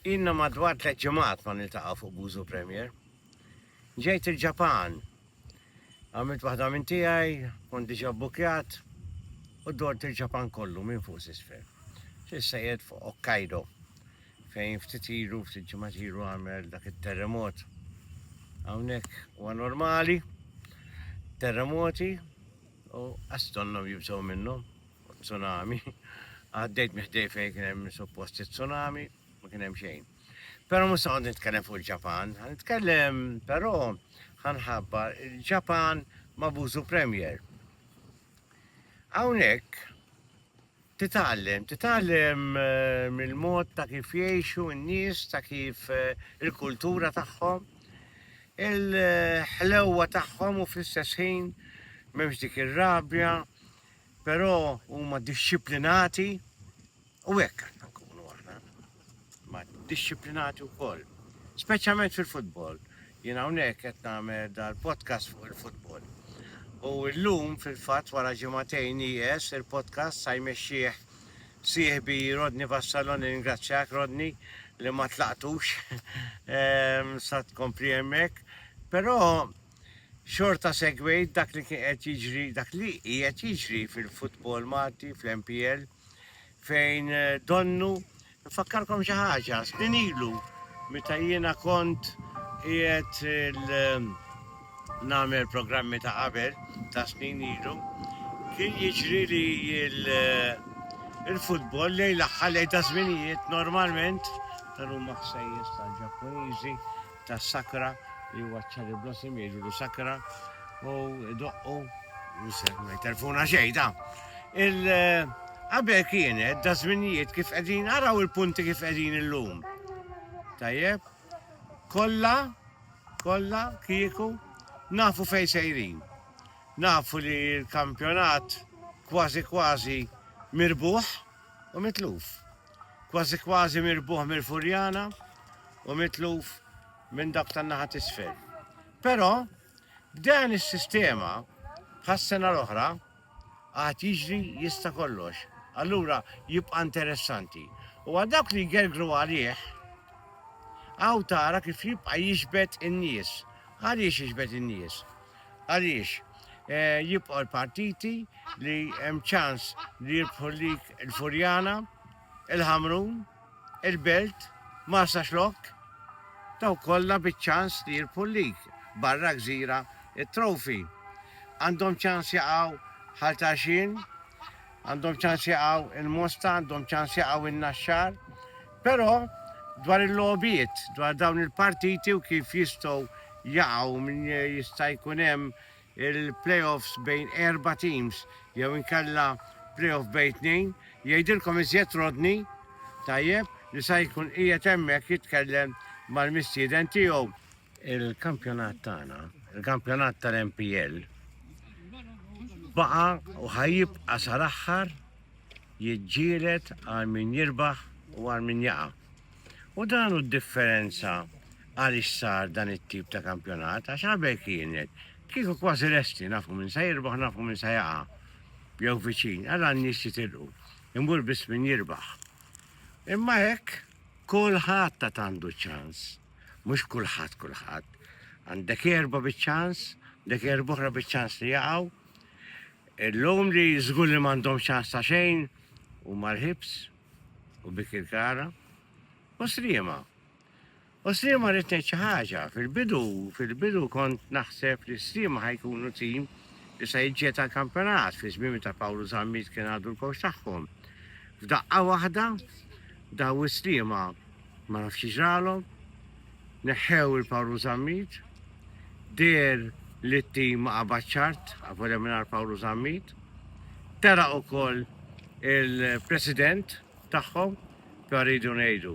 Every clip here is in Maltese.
Ilna madwar tliet ġimgħat ma niltaqgħu fuq Buzu Premier. Ġejt il-Ġapan. Għamilt waħda minn tiegħi, kont diġà bbukjat u dort il-Ġapan kollu minn fuq s'isfel. S'issa qiegħed fuq Hokkaido fejn ftit ilu, ftit ġimgħat ilu għamel dak it-terremot. Hawnhekk huwa normali, terremoti u għastonnom jibżgħu minnhom. u tsunami. Għaddejt minn ħdej fejn kien hemm suppost it-tsunami, ma kien hemm xejn. Però mhux se nitkellem fuq il-Ġapan, ħa nitkellem però ħanħabbar il-Ġapan ma' Buzu Premier. Hawnhekk titgħallem, titgħallem eh, mill-mod ta' kif jgħixu n-nies, ta' kif eh, il-kultura tagħhom, il-ħlewwa tagħhom u fl-istess ħin m'hemmx dik ir-rabja, Però huma dixxiplinati u hekk għandna nkunu aħna. Ma dixxiplinati wkoll. Speċjalment fil-futbol. Jien hawnhekk qed nagħmel dal-podcast fuq il-futbol. U llum fil-fatt wara ġimagħtejn nieqes il-podcast sa jmexxih sieħbi Rodney Vassallo nirringrazzjak Rodney li ma tlaqtux ehm, sa tkompli hemmhekk. Però Xorta segwejt dak li kien qed jiġri, dak li qiegħed jiġri fil-futbol Malti, fl-MPL, fejn donnu, nfakkarkom xi ħaġa, snin ilu meta jiena kont qiegħed nagħmel programmi ta' qabel, ta' snin ilu, kien jiġri li il-futbol lejn l-aħħar lejn ta' żminijiet normalment tal-huma ħsejjes tal-Ġappuniżi ta' Sakra li huwa cherry blossom jgħidulu Sakra u doqqu ma jterfuna xejn ta' il qabel kienet da żminijiet kif qegħdin araw il-punti kif qegħdin illum. Tajjeb, kollha kollha kieku nafu fejn sejrin. Nafu li l-kampjonat kważi kważi mirbuħ u mitluf. Kważi kważi mirbuħ mill-Furjana u mitluf minn dak tan-naħa t'isfel. Però b'dan is-sistema bħas-sena l-oħra għad jiġri jista' kollox. Allura jibqa' interessanti. U għal dawk li jgergru għalih, hawn tara kif jibqa' jixbet in-nies. Għaliex jixbet in-nies? Għaliex? Jibqgħu l-partiti li hemm ċans li jirbħu lik il-Furjana, il-Ħamrun, il-Belt, Marsaxlokk, dawk kollha biċ-ċans li jirbħu lik, barra Gżira, it-Trophy. Għandhom ċans jaqgħu Ħal Tarxien, għandhom ċans jaqgħu il-Mosta, għandhom ċans jaqgħu in-Naxxar, Però, dwar il-logħbiet, dwar dawn il-partiti u kif jistgħu jaqgħu minn jista' jkun hemm il-play-offs bejn erba' teams jew inkella play-off bejn tnejn, jgħidilkom iżjed Rodney, tajjeb, li sa jkun qiegħed hemmhekk jitkellem mal-mistieden tiegħu. Il-kampjonat tagħna, il-kampjonat tal-MPL, baqa u ħajibqa sar aħħar jiġġielet għal min jirbaħ u għal min jaqa. U dan u differenza għal sar dan it-tip ta' kampjonat, għax għabek kienet, kieku kważi resti, nafu minn sa jirbaħ, nafu minn sa jaqa. Jew viċin, għal għan nis jitilqu, imbur bis min jirbaħ. Imma hekk, kolħat ta' tandu ċans. Mhux kulħadd kulħadd. Għandek erba' biċ-ċans, għandek erba' oħra biċ-ċans li jaqgħu. Illum li żgur li m'għandhom ċans ta' xejn huma l-ħibs u bikir kara. U sliema. U sliema rrid ngħid xi ħaġa. Fil-bidu, fil-bidu kont naħseb li sliema ħajkunu tim li se jiġġiet għal kampjonat fi żmien ta' Pawlu Zammit kien għadu l-kowx tagħhom. F'daqqa waħda daw is-sliema Ma nafx xi ġralhom. Neħħew il-Pawlu Zammit. Deher li t-tim ma qabadx art, avolja mingħajr Pawlu Zammit. Telaq ukoll il-President tagħhom, però rridu ngħidu.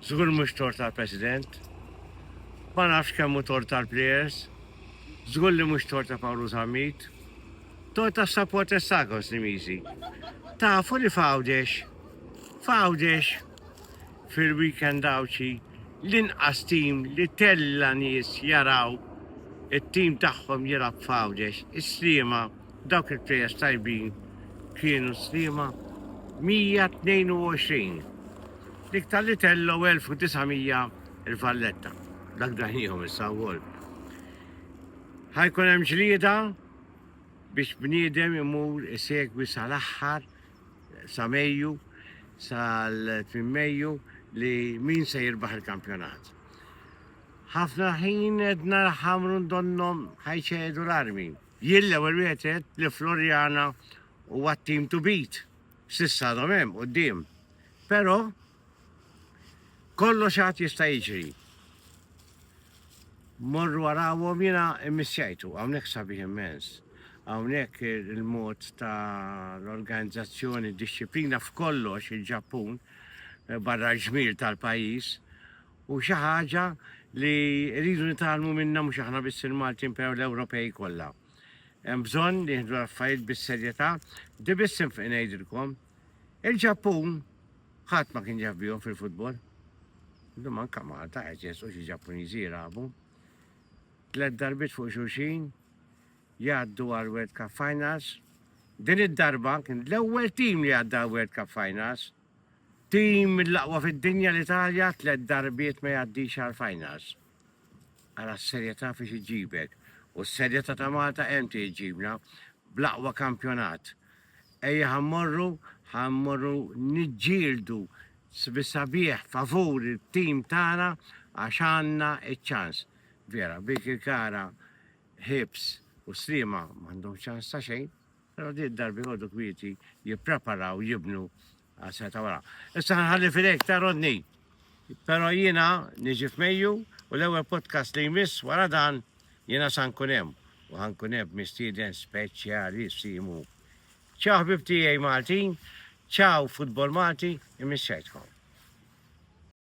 Żgur mhux tort tal-President. Ma nafx kemm hu tort tal-plejers. Żgur li mhux tort ta' Pawlu Zammit. Tort tas-supporters tagħkom, Snimiżi. Tafu li f'Għawdex, f'Għawdex fil-weekend Għawdxi l-inqas tim li tella' nies jaraw it-tim tagħhom jilgħab f'Għawdex, is-Sliema, dawk il-players tajbin kienu s-Sliema 122, l-iktar li tellgħu 1900 il-Valletta, dak daħniehom issa wkoll. Ħa jkun hemm ġlieda biex bniedem imur isegwi sal-aħħar sa Mejju, sal-tmiem Mejju li min se jirbaħ il-kampjonat. Ħafna ħin għedna ħamrun donnhom ħajċedu l-armi. Jien l-ewwel wieħed għedt li Floriana huwa t-team to beat. S'issa għadhom hemm quddiem. Però Kollox għad jista' jiġri. Morru warawhom jiena immissjajtu, hawnhekk sabiħ immens. Hawnhekk il-mod ta' l-organizzazzjoni, disċiplina f'kollox il-Ġappun eh, barra l-ġmiel tal-pajjiż u xi ħaġa li rridu nitalmu minna mhux aħna biss il-Maltin pew l-Ewropej kollha. Hemm bżonn li jieħdu l-affarijiet bis-serjetà, di biss ngħidilkom Il-Ġappun ħadd ma kien jaf bihom fil-futbol. Illum anke Malta qed jesqu xi Ġappuniżi jilagħbu. Tliet darbiet fuq xulxin jgħaddu għal World Cup Finals. Din id-darba kien l-ewwel tim li għadda World Cup Finals. Tim mill-aqwa fid-dinja l-Italja tliet darbiet ma jgħaddix għal Finals. Għala s-serjetà fiex iġibek u s-serjetà ta' Malta hemm tiġibna bl-aqwa kampjonat. Ejja ħa mmorru, ħa mmorru niġġieldu bis-sabiħ favur it-tim tagħna għax għandna ċ-ċans. Vera, Birkirkara, Hibs u Sliema m'għandhomx ċans ta' xejn, però din id-darba jqogħdu kwieti jippreparaw jibnu Aspetta wara. Issa nħalli fidejk ta' Rodney. Però jiena niġi f'Mejju u l-ewwel podcast li jmiss wara dan jiena sa nkun hemm u ħa nkun hemm mistieden speċjalissimu. Ciao ħbieb tiegħi Maltin, ciao futbol Malti, imissejtkom.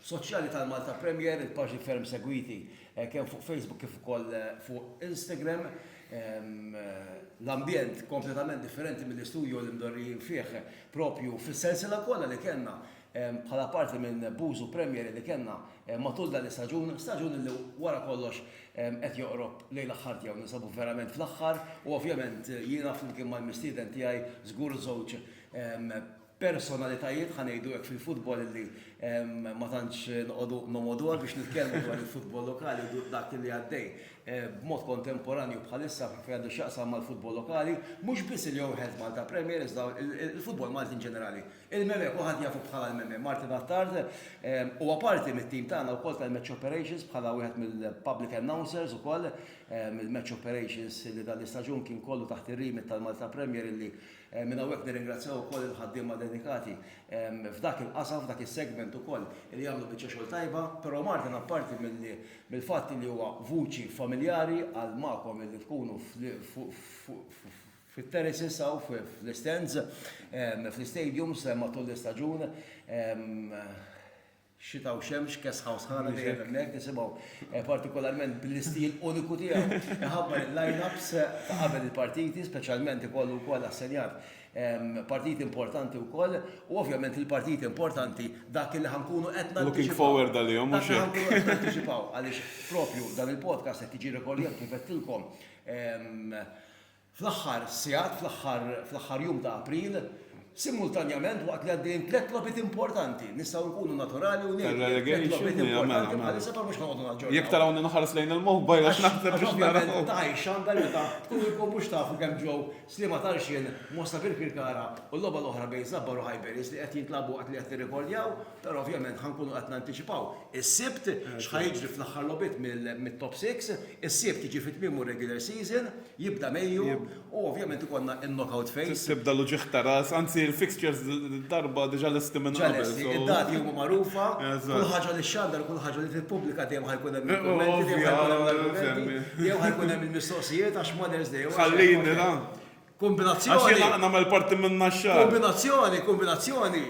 Soċjali tal-Malta Premier, il-paġni ferm segwiti kemm fuq Facebook kif ukoll fuq Instagram. L-ambjent kompletament differenti mill-istudjo li mdorrijin fih proprju fis-sensiela kollha li kellna bħala parti minn Bużu Premier li kellna matul dan l-istaġun, staġun li wara kollox qed joqrob lejn l-aħħar tiegħu, ninsabu verament fl-aħħar u ovvjament jiena flimkien mal-mistieden tiegħi żgur żewġ personalitajiet, ħa ngħidu hekk, fil-futbol li ma tantx noqogħdu nomgħoduha biex nitkellmu dwar il-futbol lokali u dak li għaddej b'mod kontemporanju bħalissa fejn għandu x'jaqsam mal-futbol lokali, mhux biss il-Your Health Malta Premier iżda il-futbol Malti in ġenerali. Il-Meme kulħadd jafu bħala l-Meme, Martin Attard, huwa parti mit-tim tagħna wkoll tal-Match Operations bħala wieħed mill-public announcers ukoll, il-Match Operations li dan l-istaġun kien kollu taħt ir-remit tal-Malta Premier li Minn hawnhekk nirringrazzjaw ukoll il-ħaddiema dedikati f'dak il-qasam, f'dak is-segment ukoll li jagħmlu biċċa xogħol tajba. Però Martin apparti mill-fatt li huwa vuċi familjari għal magħkom li tkunu fit-terraces hawn fl-istands, fl-istadiums matul l-istaġun, Xita u xemx, kesħa u sħana dejjem hemmhekk nisimgħu partikolarment bl-istil uniku tiegħu iħabbar il-line-ups ta' qabel il-partiti, speċjalment ikollu wkoll assenjat partiti importanti wkoll u ovvjament il-partiti importanti dak li ħa nkunu qed nantiċipaw. Looking forward għalihom mhux hekk? Dak li ħa nkunu qed nantiċipaw għaliex propju dan il-podcast qed jiġi rekordjat kif għedtilkom Fl-aħħar sigħat, fl-aħħar jum ta' April, simultanjament waqt li għaddejjin tliet logħbiet importanti, nistgħu nkunu naturali u ngħidu li tliet logħbiet importanti bħalissa però mhux ħanoqogħdu naġġornaw. Jekk tarawni nħares lejn il-mobile għax naħseb biex nara. Għax ovvjament ta' x'għandha meta tkunu jkun mhux tafu kemm ġew Sliema Tarxien, Mosta Birkirkara u l-logħba l-oħra bejn Żabbar u Highbury's li qed jintlagħbu waqt li qed nirrekordjaw, però ovvjament ħa nkunu qed nantiċipaw is-Sibt x'ħa jiġri fl-aħħar logħbiet mit-Top Six, is-Sibt jiġi fi tmiemu r-regular season. Jibda mejju u ovvjament ikollna in-knockout phase. Tibda l-uġigħ ta' ras, anzi l-fixtures dil-darba diġà lesti minn qabel. Diġà lesti, id-dati huma magħrufa, kull ħaġa li xxandar u kull ħaġa li tippubblika dejjem ħa jkun hemm il-kummenti, dejjem ħa jkun hemm l-argumenti, dejjem ħa jkun hemm il-mistoqsijiet għax Mother's Day huwa. Ħallini ra. Kombinazzjoni. Għax jiena nagħmel parti minnha x-xahar. Kombinazzjoni, kombinazzjoni.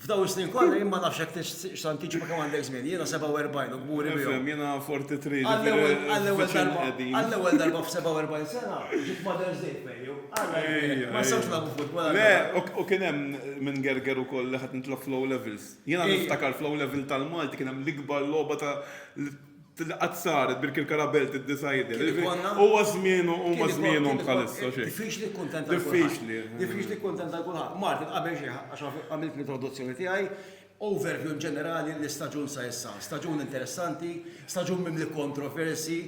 F'dawn is-snin kollha jien ma nafx jekk tixtieqx x'tantiċipa kemm għandek żmien. Jiena 47 u kburi bihom. Nifhem, jiena 43, ġifieri viċin qegħdin. Għall-ewwel darba f'47 sena ġiet Mother's Day f'Bejju. Alla jbierek, ma nistgħux nilagħbu futbol għal darba. Le, u kien hemm minn Gerger ukoll li ħadt nitlob fl-O' Levels. Jiena niftakar fl-O' Level tal-Malti kien hemm l-ikbar logħba ta' Qatt saret bil Kilkara Belt iddecided. Huwa żmienu huma żmienhom bħalissa xejn. Diffiċli kkuntenta lil kulħadd. Diffiċli. Diffiċli kkuntenta lil kulħadd. Martin, qabel xejn għax għamilt l-introduzzjoni tiegħi, overview in ġenerali l-istaġun sa issa. Staġun interessanti, staġun mimli kontroversji,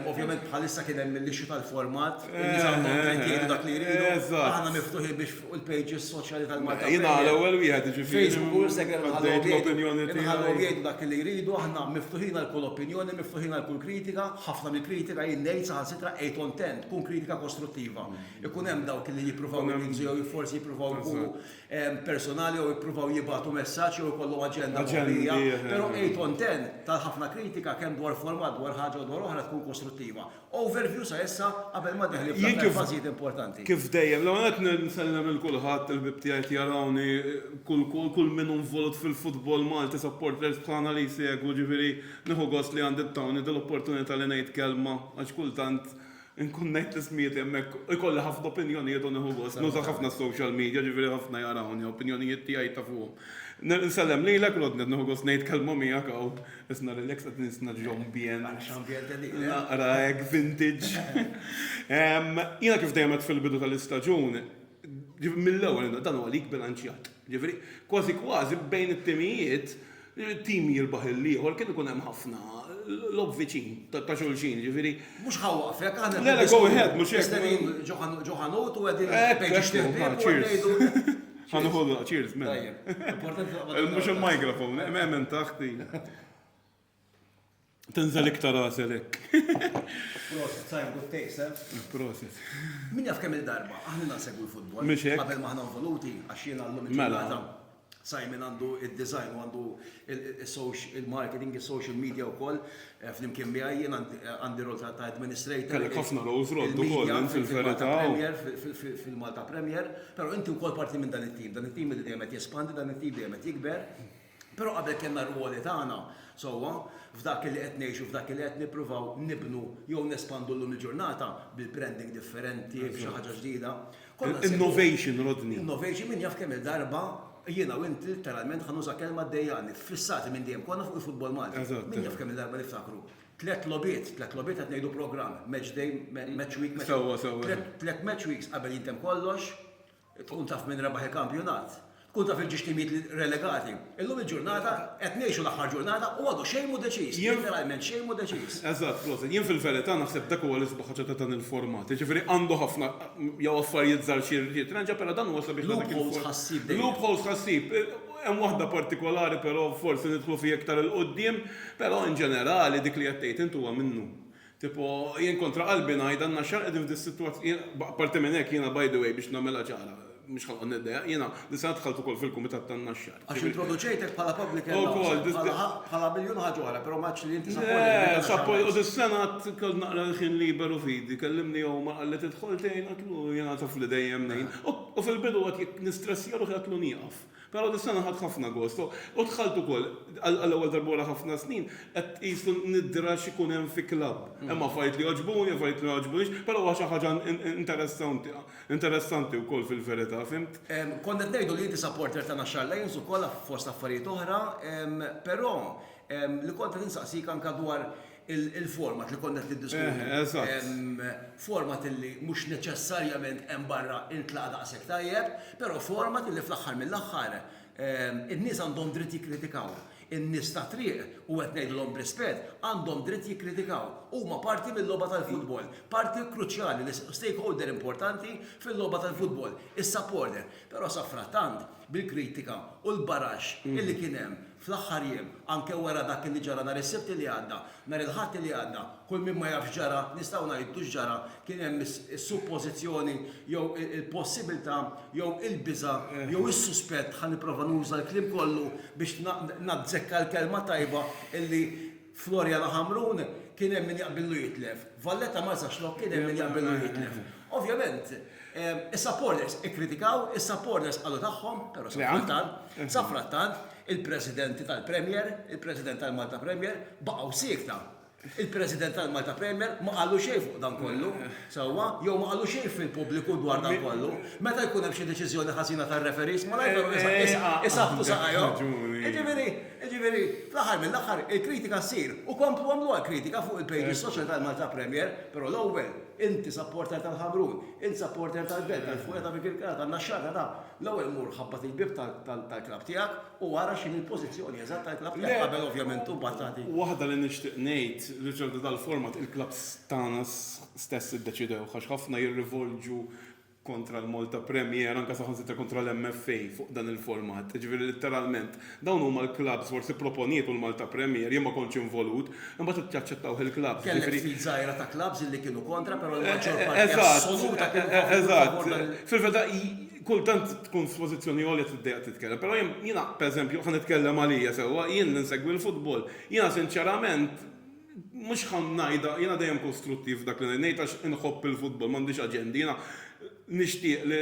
ovvjament bħalissa kien hemm l-issue tal-format, in-nies għandhom dritt jgħidu dak li jridu, aħna miftuħin biex, fuq il-pages soċjali tal-Malta. Jiena l-ewwel wieħed jiġifieri. Facebook u Instagram nħallhom jgħidu dak li jridu, aħna miftuħin għal kull opinjoni, miftuħin għal kull kritika, ħafna mill-kritika jien ngħid saħansitra qgħid on ten, tkun kritika kostruttiva. Ikun hemm dawk li jippruvaw jinqsu jew forsi jippruvaw ikunu personali jew jippruvaw jibgħatu messaġġ jew ikollhom aġenda moħbija, però qgħid on ten tal-ħafna kritika kemm dwar format, dwar ħaġa u dwar oħra tkun kostruttiva. Overview sa issa qabel ma deħli fl-aħħar Jien kif- fażijiet importanti. Kif dejjem, l-ewwel nett n- nsellem lil kulħadd, il-ħbieb tiegħi qed jarawni, kull kull kull min hu involut fil-futbol Malti, supporters bħalna li jsegwu, ġifieri nieħu gost li għandi ttawni dil-opportunità li ngħid kelma għax kultant inkun ngħid l-ismijiet li hemmhekk ikolli ħafna opinjonijiet u nieħu gost, nuża ħafna s-social media ġifieri ħafna jarawni, opinjonijiet tiegħi jtafuhom. N- Nsellem lilek Rodney, nieħu gost ngħid kelma miegħek hawn. Isna relax qed nisna ġombien. Naqra hekk vintage. Jiena kif dejjem qed fil-bidu tal-istaġun, mill-ewwel dan huwa lig bilanċjat. Ġifieri, kważi kważi bejn it-timijiet, tim jirbaħ lill-ieħor kien ikun hemm ħafna logħob viċin ta' xulxin, ġifieri. Mhux ħa waqfek, aħna. Le, le, go ahead, mhux hekk. Ġo ħanut u qegħdin. Hekk, hekk, hekk. Ngħidu. Għandu ħollu, cheers, men. Mux il-mikrofon, emmen taħti. Tenzel iktar għaselek. Proset, sajn good takes, eh? Proset. Min jaf kemm il-darba, aħna nasegwu l-futbol. Mux hekk. Qabel maħna voluti, għax jien għallum mela. il-ġurnata. għandu il-design, għandu il-marketing, il-social media u koll. Flimkien miegħi jien għandi rol ta' administrator. Kellek ħafna roles roll ukoll int fil-verità. Fil-Malta Premier, però inti wkoll parti minn dan it-tim. Dan it-tim li dejjem qed jespandi, dan it-tim dejjem qed jikber. Però qabel kellna r-rwoli tagħna sewwa f'dak li qed ngħixu, f'dak li qed nippruvaw nibnu jew nespandu llum il-ġurnata bil-branding differenti, b'xi ħaġa ġdida. Innovation, Rodney. Innovation, min jaf kemm-il darba jiena u int litteralment ħa nuża kelma ddejjaqni, ffissati minn dejjem konna fuq il-futbol Malti. Min jaf kemm-il darba niftakru. Tliet logħbiet, tliet logħbiet qed ngħidu programm, match day, match week, match week. Tliet match weeks qabel jintemm kollox, tkun taf min rebaħ il-kampjonat. Tkun taf il-ġiex timijiet li relegati. Illum il-ġurnata qed ngħixu l-aħħar ġurnata u għadu xejn mhu deċiż. Letteralment xejn mhu deċiż. Eżatt, proset. Jien fil-verità naħseb dak huwa l-isbaħ ħaġa ta' dan il-format. Jiġifieri għandu ħafna jew affarijiet żgħar xi jirranġa però dan huwa sabiħ ta' dak il-format. Loopholes tħassib dejjem. Loopholes tħassib. Hemm waħda partikolari però forsi nidħlu fiha iktar 'il quddiem, però in ġenerali dik li qed tgħid int huwa minnu. Tipo, jien kontra qalbi ngħid, għandna xahar qegħdin f'din is-sitwazz. Jien, apparti minn hekk, jiena by the way, biex nagħmilha ċara, mhux ħa noqgħod niddejjaq, jiena din is-sena dħalt ukoll fil-Kumitat tan-Naxxar. Għax introduċejtek bħala public announcer, bħala ħa, bħala miljun ħaġa oħra, però ma għadx li inti supporter Le, tal-Naxxar suppo, u West. dis-sena għad kellt naqra l-ħin liberu f'idi, kellimni Omar qalli tidħol tgħin, għedtlu jiena taf li dejjem ngħin. U, u fil-bidu għad jekk nistressja ruħi għedtlu nieqaf. Però dis-sena ħadt ħafna gost u dħalt ukoll, għall-ewwel darba wara ħafna snin, qed tqis l-nidra x'ikun hemm fi klabb. Hemm affarijiet li jogħġbuni, affarijiet li ma jogħġbunix, però huwa xi ħaġa interessanti, interessanti wkoll fil-verità, fhimt? Kont qed ngħidu li inti supporter ta' Naxxar Lions ukoll fost affarijiet oħra, però li kont qed insaqsik anke dwar il-format li konna qed niddiskutu. Eżatt. Format illi mhux neċessarjament hemm barra intlaqa' daqshekk tajjeb, però format illi fl-aħħar mill-aħħar in-nies għandhom dritt jikkritikaw. In-nies tat-triq, u qed ngħidilhom b'rispett, għandhom dritt jikkritikaw. Huma parti mil-logħba tal-futbol, parti kruċjali, stakeholder importanti fil-logħba tal-futbol, is-supporter. Però safrattant, bil-kritika u l-baraxx illi kien hemm Fl-aħħar jiem, anke wara dak li ġara nhar is-Sibt li għadda, nhar il-Ħadd li għadda, kull min ma jaf x'ġara, nistgħu ngħidu x'ġara, kien hemm is-suppożizzjoni jew il-possibilità jew il-biża' jew is-suspett, ħa nipprova nuża l-kliem kollu biex nazzekka l-kelma tajba, illi Floriana Hamrun, Kien hemm min jaqbillu jitlef. Valletta Marsa Xlokk, Kien hemm min jaqbillu jitlef. Ovvjament, is-supporters ikkritikaw, is-supporters qalu tagħhom, però sa frattant, sa frattant, il-Presidenti tal-Premier, il-President tal-Malta Premier, baqgħu siekta. Il-President tal-Malta Premier ma qallu xejn fuq dan kollu, sewwa, jew ma qallu xejn fil-pubbliku dwar dan kollu. Meta jkun hemm xi deċiżjoni ħażina tar-referees, malajr però isaħħtu saqajhom. Jiġifieri, Jiġifieri, fl-aħħar mill-aħħar, il-kritika ssir, u komplu għamluha l-kritika fuq il-pages social tal-Malta Premier, però l-ewwel, int supporter tal-Ħamrun, int supporter tal-Belt, tal-Furet, ta' Birkirkara, tan-Naxxar, ta' dan, l-ewwel mur ħabbat il-bieb tal-klabb tiegħek u ara x'inhi l-pożizzjoni eżatt tal-klabb tiegħek qabel ovvjament imbagħad tagħti. Le, waħda li nixtieq ngħid, riċerka tal-format il-klabbs tagħna stess iddeċidewha għax ħafna jirrivolġu kontra l-Malta Premier, anke saħansitra kontra l-MFA fuq dan il-format. Jiġifieri litteralment dawn huma l-klabbs, forsi pproponiet u l-Malta Premier, jien ma kontx involut, imbagħad jaċċettawh il-klabbs, jiġifieri. Kellek ftit żgħira ta' klabbs li kienu kontra, però l-maġġor parti assoluta kienu favur dan il-format. Eżatt. Fil-verità kultant tkun f'pożizzjoni għolja tiddejjaq titkellem, però jiena pereżempju, ħa nitkellem għalija sewwa, jien li nsegwi l-futbol, jiena sinċerament, Mhux ħa ngħidha, jiena dejjem kostruttiv f'dak li ngħid għax inħobb il-futbol, m'għandix aġendi. Jiena nixtieq li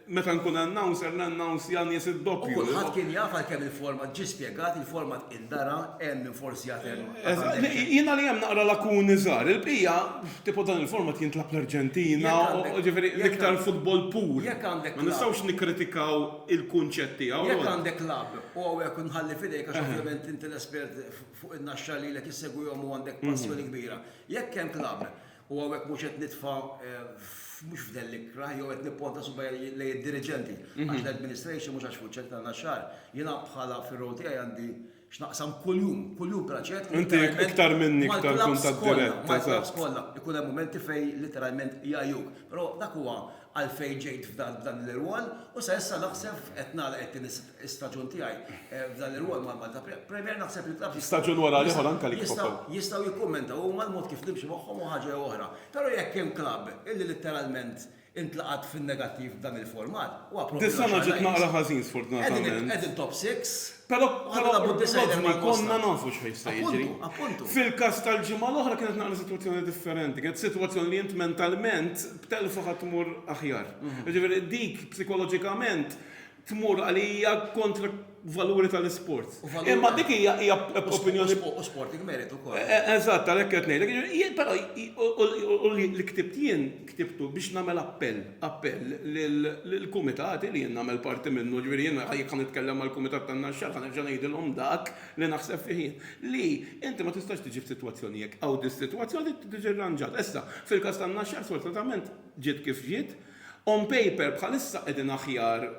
meta nkun announcer nannounsja nies id-doppju. U kulħadd kien jaf għalkemm il-format ġie spjegat, il-format indara, hemm min forsi jagħtih għall-għandek. Jiena li hemm naqra lakuni żgħar. Il-bqija, tipo dan il-format jintlagħab l-Arġentina, jiġifieri l-iktar futbol pur. Jekk għandek klabb. Ma nistgħux nikkritikaw il-kunċett tiegħu. Jekk għandek klabb, u hawnhekk inħalli f'idejk għax ovvjament inti l-espert fuq in-naxxa lilek issegwihom u għandek passjoni kbira. Jekk hemm klabb, u hawnhekk mhux qed nitfa' mhux f'dell ikrah jew qed nipponta subajja lejn id-diriġenti, għax l-administration mhux għax fuq ċentri tan-naxxar, jiena bħala fir-role tiegħi għandi x'naqsam kuljum, kuljum bla ċekk, literalment mal-klabbs kollha, mal-klabbs kollha, ikun hemm mumenti fejn literalment jgħajjuk. Però dak huwa għalfejn ġejt f'dan l-irwol u sa issa naħseb qed nagħlaq it-tieni Staġun tiegħi f'dan ir-rwol mal-Malta Premier, naħseb li l-klabbs jistgħu jistgħu jikkummentaw huma l-mod kif nimxi magħhom hu ħaġa jew oħra. Però jekk hemm klabb illi litteralment intlaqat fin-negattiv b'dan il-format, huwa propju l-Għaxar Lajns. Dis-sena ġiet naqra ħażin sfortunatament. Qegħdin top six u qed nilagħbu d-disgħajner mal-Boston. Rodney, konna nafu x'ħa jista' jiġri. Appuntu, appuntu. Fil-każ tal-ġimgħa l-oħra kienet naqra sitwazzjoni differenti. Kienet sitwazzjoni li int mentalment b'telfa ħa tmur aħjar. Jiġifieri dik psikoloġikament tmur għalija kontra valuri tal-isport. Imma dik hija hija opinjoni. U sport jgmerit ukoll. E, e, eżatt, għalhekk qed ngħidlek. Però u li ktibt jien ktibtu biex nagħmel appell, appell lill-kumitati li jien nagħmel parti minnu, ġifieri jien jekk nitkellem mal-kumitat tan-naxxar ħa nerġa' ngħidilhom dak li naħseb fih jien. Li inti ma tistax tiġi f'sitwazzjoni jekk hawn dis-sitwazzjoni tiġi rranġata. Issa, fil-każ tan-naxxar sfortunatament ġiet kif ġiet, On paper bħalissa qegħdin aħjar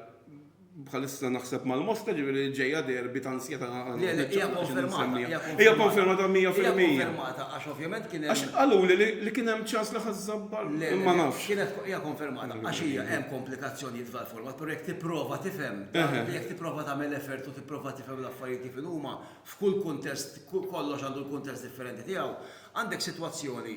bħalissa naħseb mal-Mosta ġifieri li ġejja derby ta' ansjetà Hija konfermata 100%. Għax ovvjament kien hemm. Għax qaluli li kien hemm ċans li ħa żżabbar ma nafx. Hija konfermata għax hija hemm komplikazzjonijiet f'dan il-format, però jekk tipprova tifhem, jekk tipprova tagħmel effort u tipprova tifhem l-affarijiet kif inhuma, f'kull kuntest kollox għandu l-kuntest differenti tiegħu, għandek sitwazzjoni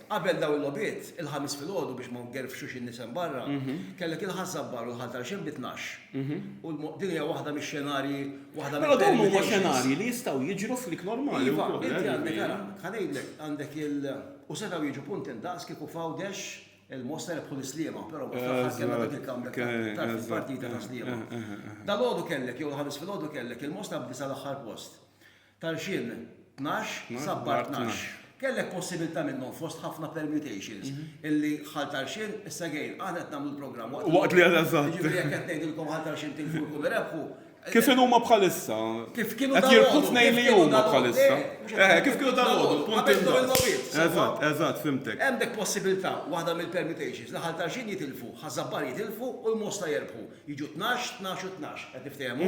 Qabel dawn il-logħbiet, il-Ħamis filgħodu biex ma ngerfxux in-nies hemm barra, kellek il-Ħaż-Żabbar u l-Ħal Tarxien bi tnax. U din hija waħda mix-xenarji, waħda mill-permutations. Però dawn huma xenarji li jistgħu jiġru f'lig normali wkoll. Iva, inti għandek ara, ħa ngħidlek, għandek il, u setgħu jiġu punti ndaqs kieku f'Għawdex il-Mosta rebħu lis-Sliema, però mbagħad fl-aħħar kellna dak il-comeback ta' tard fil-partita ta' Sliema. Dalgħodu kellek, jew il-Ħamis filgħodu kellek, il-Mosta b'disa' l-aħħar post. Tal-xien tnax, sabbar tnax. Kellek possibilità minnhom fost ħafna permutations illi ħal tal-xien, issa gejn, aħna qed nagħmlu l-programm waqt li. Waqt li, eżatt. Jiġifieri jekk qed ngħidilkom ħal tal-xien tilfu jkunu rebħu. Kif inhuma bħalissa? Kif kienu dalgħodu? Qed jirbħu tnejn li huma bħalissa. Eħe, kif kienu dalgħodu, punt indaqs. Qabel dawn il-logħbiet, sewwa. Eżatt, eżatt, fhimtek. Hemm dik possibilità, waħda mill-permutations, li ħal tal-xien jitilfu, ħaż-żabbar jitilfu u l-Mosta jerbħu. Jiġu tnax, tnax u tnax, qed niftehmu?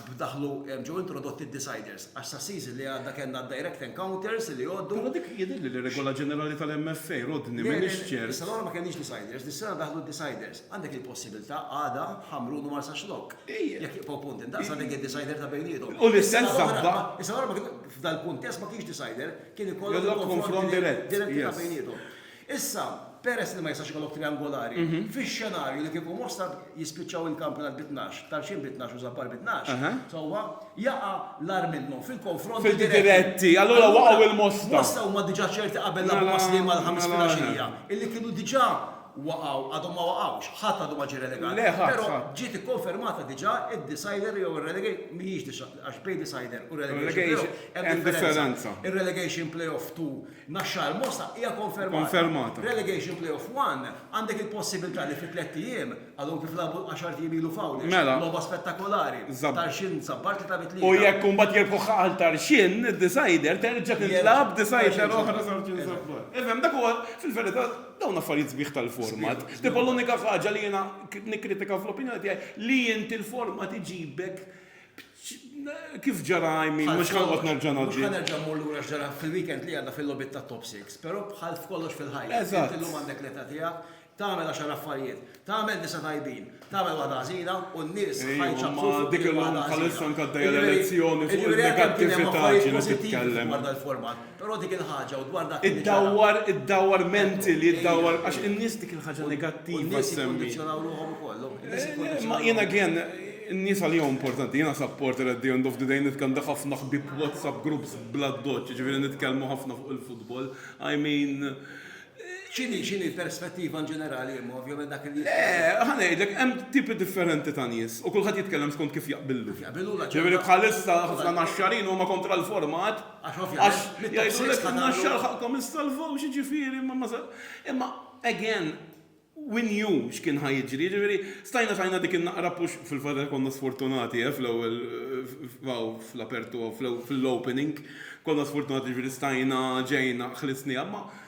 b'daħlu ġew introdotti d-deciders għax sas-season li għadda kellna d-direct encounters li jgħoddu. Però dik jidhirli li regola ġenerali tal-MFA, rodni, m'iniex ċert. Le, le, is-sena l-oħra ma kellniex deciders, dis-sena daħlu d-deciders. Għandek il-possibilità għada Ħamrun u Marsaxlokk, jekk jibqgħu punti ndaqs għandek id-decider ta' bejniethom. U l-istess żabba. Is-sena l-oħra f'dal-kuntest ma kienx decider, kien ikollok il-konfront dirett ta' bejniethom. Issa, peress li ma jistax ikollok triangolari, fix-xenarju li kieku Mostar jispiċċaw il-kampjonat bi tnax, Tarxien bi tnax u Żabbar bi tnax, sewwa, jaqa' l-agħar minnhom fil-konfronti diretti. Fil-di diretti, allura waqgħu lil Mosta. Mosta huma diġà ċerti qabel lagħbu ma' Sliema l-Ħamis filgħaxija, illi kienu diġà waqgħu, għadhom ma waqgħux, ħadd għadu ma ġie relegat. Le, ħadd, ħadd. Però ġiet ikkonfermata diġà id-decider jew ir-relegation, mhijiex għax bejn decider u relegation playoff hemm differenza. Hemm differenza. Ir-relegation playoff tu Naxxar Mosta hija konfermata. Relegation Playoff One, għandek il-possibiltà li fi tlett ijiem, għadhom kif lagħbu għaxart ijiem ilu f'Għawdex, logħba spettakolari, Tarxien sab Bartli ta' bi tlieta. U jekk imbagħad jirbħuha għal Tarxien, id-decider, terġa' tintlagħab decider oħra Tarxien sab Bartli. Ifhem, dak huwa, fil-verità, dawn affarijiet sbieħ tal-format. Tipo l-unika ħaġa li jiena nikkritika fl-opinjoni tiegħi li inti l-format iġibek Kif ġara I mean, mhux ħanqgħod nerġa' ngħaddi. Mhux ħanerġa' mmur lura x'ġara fil-weekend li għadda fil-logħbiet tat-Top Six, però bħal f'kollox fil-ħajja. Eżatt. Int illum għandek l-età tiegħek, tagħmel għaxar affarijiet, tagħmel disa' tajbin, tagħmel waħda ħażina u n-nies ħajċappfu fuq dik il-waħda ħażina. Dik il-lum bħalissa nkaddeja l-elezzjoni fuq in-negattività ġieli titkellem. Dwar dal-format. Però dik il-ħaġa u dwar dak li ġara. Iddawwar, iddawwar mentally, iddawwar għax in-nies dik il-ħaġa negattiva semmi. In-nies jikkondizzjonaw ruħhom ukoll. Eh, ma jiena again, in-nies għal jew importanti, jiena supporter at the end of the day nitkellem dak ħafna ħbib WhatsApp groups bla doċ, ġifieri nitkellmu ħafna fuq il-futbol. I mean, ċini ċini perspettiva in ġenerali imma ovvjament dak il Eh, ħanejdlek, hemm tipi differenti ta' nies u kulħadd jitkellem skont kif jaqbillu. Jaqbillu Ġifieri bħalissa ħafna naxxarin huma kontra l-format Għax ovvjament. Jgħidulek in-naxxar ħaqkom issalvaw x'jiġifieri imma again we knew x'kien ħa jiġri, jiġifieri stajna tajna dik in-naqra push fil-fatt li konna sfortunati eh, fl-ewwel fl-apertu fl-opening konna sfortunati jiġifieri stajna ġejna ħlisniha ma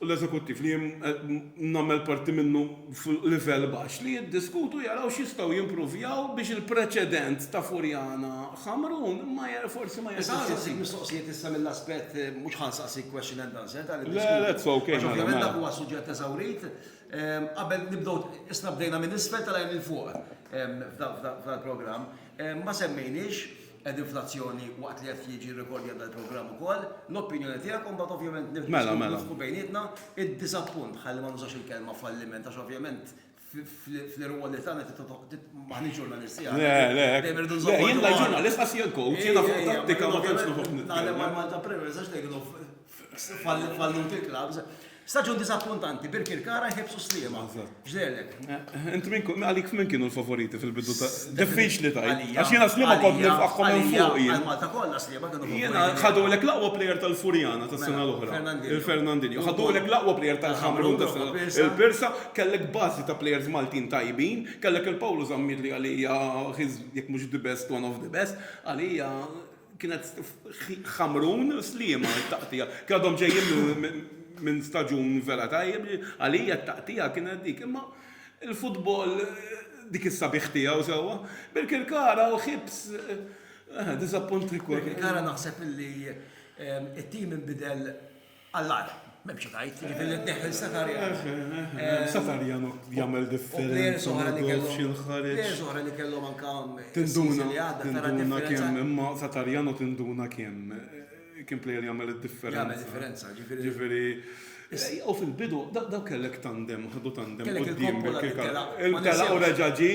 u l-eżekuttiv li jien qed nagħmel parti minnu fuq livell baxx, li jiddiskutu jaraw x'jistgħu jimpruvjaw biex il-preċedent ta' Furjana Ħamrun ma forsi ma jerġax isir. Nista' nsaqsik mistoqsijiet issa mill-aspett, mhux ħa nsaqsik question and answer ta' l-iddiskutu. Le, le, it's ok, mela, mela. Għax ovvjament dak huwa suġġett eżawrit. Qabel nibdew, isna bdejna minn isfel telgħin 'il fuq f'dal-programm. Ma semmejniex, Qegħdin fl-azzjoni waqt li qed jiġi rrekordjat dal-programm ukoll. L-opinjoni tiegħek u mbagħad ovvjament nif- Mela, mela. nisħu bejnietna id-diżappunt ħalli ma nużax il-kelma falliment għax ovvjament f- fl- fl-irwol li tagħna trid titħoq- tit- m'aħniex ġurnalisti Le, aħna. le, Dejjem irridu le, nżommu jien la ġurnalist għas jien coach, jiena fuq Ejja, ejja, tattika ma tantx ovvjament noħob Naħdem nitkellem. għal Malta Premier, ma nistax ngħidilhom f- falluti l-klabs. Staġun disappuntanti, Birkirkara jħebsu Sliema. Ġdelek. Int minn kun, għalik minn kienu l-favoriti fil-bidu ta' diffiċ li tajt. Għax jena Sliema kont nifqaħħom minn fuq jien. Malta kollha Sliema kienu favoriti. Jena ħadu l-ek laqwa plejer tal-Furjana ta' sena l-oħra. Il-Fernandinho. Ħadu l-ek laqwa plejer tal-Ħamrun ta' sena. Il-Pirsa kellek bazi ta' plejers Maltin tajbin, kellek il-Pawlu Zammit li għalija jek mux the best, one of the best, għalija. Kienet Ħamrun Sliema t-taqtigħa. Kien għadhom ġejjin minn staġun vera tajjeb, għalija t-taqtigħa kienet dik. Imma l-futbol dik is-sabiħ tiegħu sewwa. Birkirkara u Hibs diżappunti wkoll. Birkirkara naħseb illi t-tim inbidel Għall-agħar, m'hemm xi tgħid, jiġifieri li tneħħi lil Sakarjan. Sakarjan jagħmel differenza u ma tgħidx jinħareġ. Plejers oħra li kellhom anke tinduna li għadda tara differenza. Imma Sakarjan u tinduna kemm kien plejer jagħmel id-differenza. Jagħmel differenza, jiġifieri. U fil-bidu dawk kellek tandem, ħadu tandem quddiem. Telaq u reġa' ġie,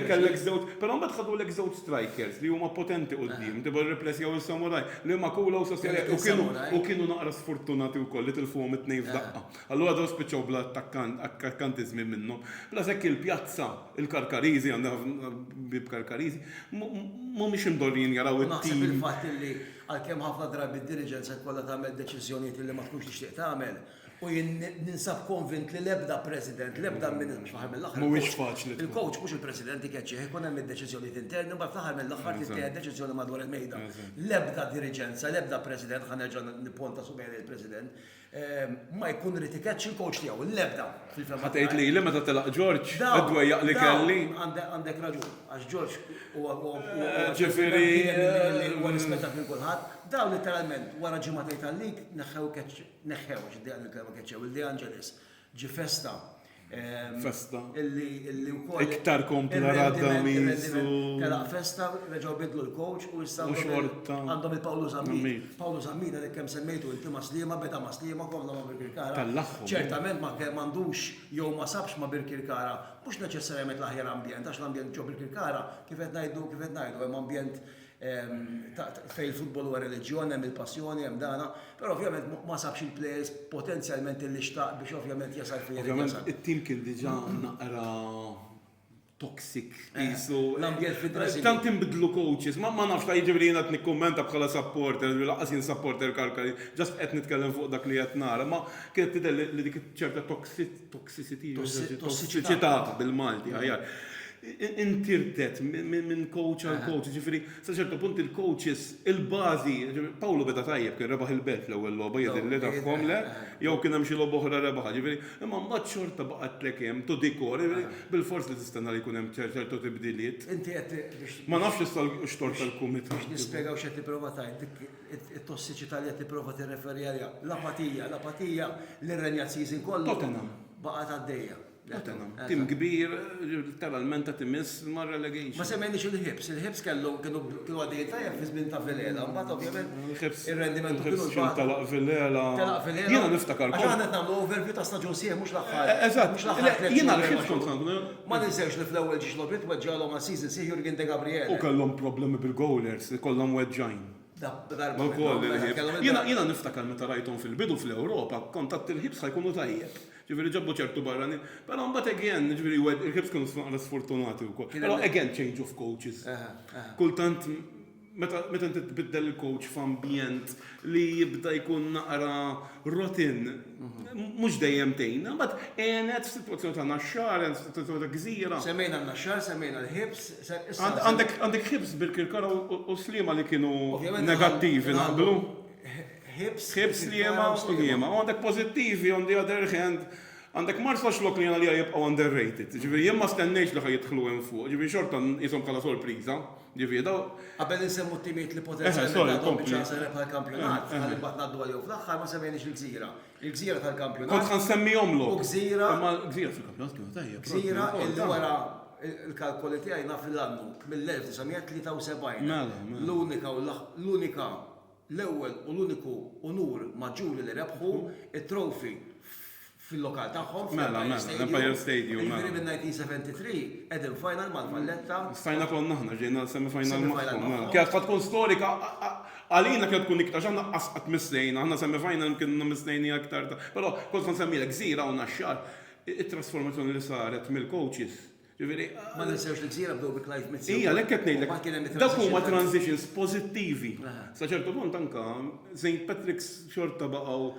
kellek żewġ, però mbagħad ħadulek żewġ strikers li huma potenti quddiem, Deborah Replessia u Samuraj. L-Immaculata u Sofia Lejk u kienu u kienu naqra sfortunati wkoll li tilfuhom it-tnejn f'daqqa. Allura dawn spiċċaw bla attakkant, akkantiżmi minnhom. Bla s'hekk il-pjazza, il-Karkariżi, għandha ħafna ħbieb Karkariżi, mhumiex imdorrijin jaraw it-tim. Naħseb il-fatt li għalkemm ħafna drabi d-diriġenza jkollha tagħmel deċiżjonijiet li ma tkunx tixtieq tagħmel, U jien ninsab konvint li l-ebda president, l-ebda minn fl-aħħar mill-aħħar. Mhuwiex faċli. Il-coach mhux il-president ikeċċih, ikun hemm id-deċiżjonijiet interni, mbagħad fl-aħħar mill-aħħar tittieħed deċiżjoni madwar il-mejda. L-ebda diriġenza, l-ebda president, ħa nerġa' nipponta subgħi lejn il-president, ma jkun irid ikeċċi l-coach tiegħu, l-ebda fil-fehma. Ħa tgħid lili meta telaq George, id-dwejjaq li kelli. Għandek raġun, għax George huwa huwa rispettat minn kulħadd. Dawn litteralment wara ġimgħatejn tal-lig neħħew keċċ. Neħħew, xi dejja il-kelma keċċew, il-De Angelis ġi festa. Ehm, festa. Illi u koll. Iktar kompla radda mizu. Tela festa, reġaw bidlu l-coach u jissaw. Għandhom il-Pawlu Zammina. Pawlu Zammina li kem semmejtu inti maslima, beda maslima kollha ma' Birkirkara. Ċertament ma' kem għandux jew ma' sabx ma' Birkirkara, mux neċessarjament l-aħjar ambjent, għax l-ambjent ġo Birkirkara, kifet najdu, kifet najdu, hemm ambjent Fejn il-futbol huwa reliġjon hemm il-passjoni, hemm dan, però ovvjament ma sabx il-plejers potenzjalment li xtaq biex ovvjament jasal fejn irid jasal. Ovvjament it-tim kien diġà naqra toxic qisu. L-ambjent fid-dressing. Tant inbidlu coaches, ma nafx ta' jiġifieri jiena qed nikkummenta bħala supporter, lanqas jien supporter Karkari, just qed nitkellem fuq dak li qed nara, ma kienet tidher li dik ċerta Tossiċità, bil-Malti aħjar. Intirdet minn coach għal coach, ġifieri sa ċertu punt il-coaches, il-bażi, Pawlu beda tajjeb, kien rebaħ il-Belt l-ewwel logħba jidhirli tagħhom, le? Jew kien hemm xi logħba oħra rebaħha, ġifieri, imma mbagħad xorta baqgħetlek hemm, to the core, bilfors li tistenna li jkun hemm ċertu tibdiliet. Ma nafx issa x-xogħol tal-kumitat. Biex nispjegaw x'qed nipprova tgħid. It-tossiċità li qed tipprova tirreferi għaliha, l-apatija, l-apatija li rrenjat season kollu. Tottenham. Baqgħet għaddejja. Tottenham. Tim kbir, letteralment qed imiss mar-relegation. Ma semmejniex il-Hibs. Il-Hibs kellhom kienu għaddejjin tajjeb fi żmien ta' Villela, mbagħad ovvjament ir-rendiment kienu l-bogħod. Il-Hibs telaq Villela. Telaq Villela. Jiena niftakar. Aħna qed nagħmlu overview ta' staġun sieħ mhux l-aħħar. Eżatt. Mhux l-aħħar tliet. Jiena l-Hibs kont ngħidu. Ma ninsewx li fl-ewwel ġiex logħbiet weġġagħlhom għal season sieħ Jurgen Degabriele. U kellhom problemi bil-goalers, ikollhom weġġgħin. Jiena niftakar meta rajthom fil-bidu fl-Ewropa, kont għadt il-ħiebs ħa jkunu tajjeb. Ġifieri ġabu ċertu barranin. Però mbagħad again, ġifieri il-ħiebs kienu naqra sfortunati wkoll. Però again change of coaches. Kultant meta inti tbiddel il-coach f'ambjent li jibda jkun naqra rotin, mhux dejjem tgħin. Imbagħad għenet f'sitwazzjoni ta' Naxxar, għenet f'sitwazzjoni ta' Gżira. Semmejna n-Naxxar, semmejna l-ħiebs. Għandek Hibs bil-Kirkara u Sliema li kienu negattivi naqblu. Hibs, Sliema u Sliema. Għandek pożittivi on the other hand. Għandek Marsax lok li jena li jibqaw underrated. Ġifieri jien ma stennejx li ħa jidħlu hemm fuq. Ġifieri xorta nqishom bħala sorpriża. Ġifieri daw. Qabel insemmu t-timijiet li potenzjalment għandhom biċċa rebħa l-kampjonat, ħalli mbagħad ngħaddu għalihom fl-aħħar ma semmejniex il-Gżira. Il-gżira tal-kampjonat. Kont ħansemmihom lok. U gżira. Imma gżira fil-kampjonat kienu tajjeb. Gżira illi wara il-kalkoli tiegħi naf l-annu mill-1973. Mela, mela. L-unika u l-unika l-ewwel u l-uniku unur maġġuri li rebħu it-trofi fil-lokal tagħhom. Mela, mela, l-Empire Stadium. Jiġifieri minn 1973 qegħdin final mal-Valletta. Stajna konna aħna ġejna semi-final magħhom. Kienet tkun storika Għalina kienet tkun iktar, x'aħna qas qatt missejna, aħna semi-final imkien inna missejniha iktar ta', però kont ħa nsemmilek Gżira u Naxxar, it-trasformazzjoni li saret mill-coaches, ġifieri. Ma ninsewx li Gżira bdew bi Clive Mizzi wkoll. Ija, għalhekk qed ngħidlek. U mbagħad kien hemm it-transition. Dawk huma transitions pożittivi. Sa ċertu punt anke St Patrick's xorta baqgħu,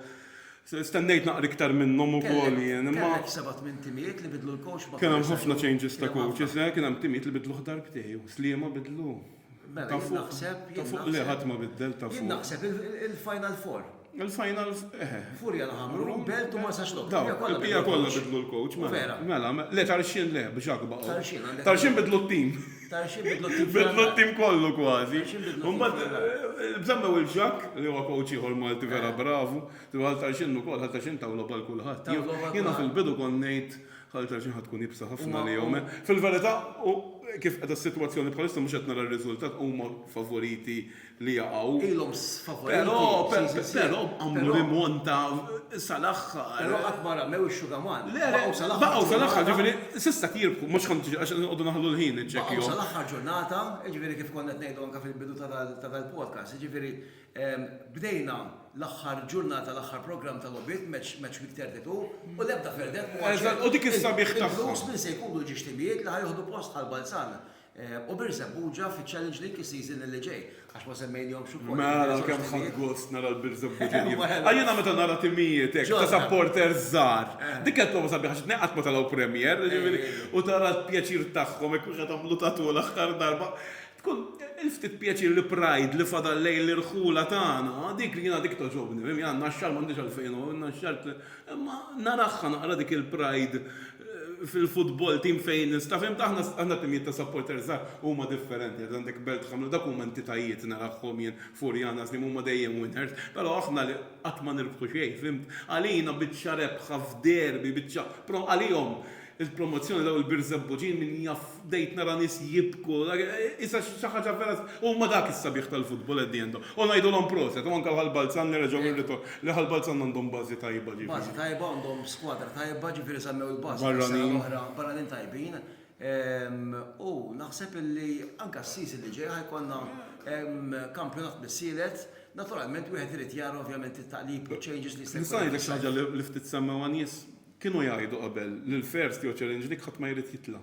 stennejt naqra iktar minnhom ukoll jien, imma. Kellek seba' tmien timijiet li bidlu l-coach ma' kull sena. Kien hemm ħafna changes ta' coaches, kien hemm timijiet li bidluh darbtejn, Sliema bidlu. Mela, jien naħseb, jien naħseb. Ta' fuq le, ħadd ma biddel ta' fuq. Jien naħseb il-final four. Il-final, eħe. Furja la Ħamrun, Belt u Marsax Lok. Dawk, il-bqija kollha bidlu l-coach. U vera. Mela, le Tarxien le, biex hekk baqgħu. Tarxien għandek. Tarxien bidlu t-tim. Tarxien bidlu t-tim. Bidlu t-tim kollu kważi. Tarxien bidlu t-tim. Imbagħad bżammew il-Ġakk, li huwa coach ieħor Malti vera bravu. Għal Tarxien ukoll, għal Tarxien taw logħba 'l kulħadd. Taw logħba 'l kulħadd. Jiena fil-bidu kont ngħid. Ħalli ta' xi ħadd tkun iebsa ħafna għalihom. Fil-verità, kif qiegħda s-sitwazzjoni bħalissa mhux qed nara r-riżultat, huma favoriti li jaqgħu. Ilhom favoriti f'xi sitt siegħat. Però għamlu rimonta sal-aħħar. Però qatt ma ramew ix-xugaman. Le, le, baqgħu sal-aħħar, ġifieri s'issa qed jirbħu, mhux ħadd jiġi għax inqogħdu naħlu l-ħin inċekkjhom. Baqgħu sal-aħħar ġurnata, jiġifieri kif konna qed ngħidu anke fil-bidu ta' dal-podcast, jiġifieri Bdejna l-aħħar ġurnata l-aħħar programm ta' logħbiet, match match week 32, u l-ebda verdet m'huwa ċert. Eżatt, u dik is-sabiħ tagħha. Il-blues min se jkunu l-ġixtibijiet li ħa jieħdu post Ħal Balzan u Birżebbuġa Buġa fiċ-Challenge League is-season li ġej, għax ma semmejnihomx ukoll. Mela kemm ħadt gost nara l-Birżebbuġin jien. Għax jiena meta nara timijiet hekk ta' supporters żgħar, dik hija l-prova sabiħa x'inhi qatt ma telgħu Premier, jiġifieri u tara l-pjaċir tagħhom hekk wieħed għamlu tattoo l-aħħar darba. Tkun il-ftit pjaċir li pride li fadal lejn l-irħula tagħna, dik jiena dik togħġobni, mhmm, jiena n-naxxar m'għandix għalfejn noqgħod n-naxxar, imma naragħha naqra dik il-pride fil-futbol tim fejn nista' fhimtu aħna aħna timijiet ta' supporters żgħar huma differenti, għad għandek Belt Ħamra dawk huma entitajiet naragħhom jien Furjanas li huma dejjem winners, però aħna li qatt ma nirbħu xejn fhimt, għalina biċċa rebħa f'derby biċċa pro għalihom Il-promozzjoni dawn il-birżebbuġin min jaf bdejt nara nies jibku isa xi ħaġa vera huma dak is-sabiħ tal-futbol at the end u ngħidulhom proset u anke l-Ħal Balzan li reġgħu irritor li Ħal Balzan għandhom bażi tajba ġifieri. Bażi tajba għandhom skwadra tajba ġifieri semmew il-Basket is-sena l-oħra barranin tajbin u naħseb illi anke s-season li ġej ħa jkollna kampjonat mis-sielet naturalment wieħed irid jara ovvjament it-taqlib u ċ-changes li jista' jkun hemm fis-sajf. Nista' ngħidlek xi ħaġa li ftit semmew għan-nies? Kienu jgħidu qabel li l-first jew challenge league ħadd ma jrid jitla'.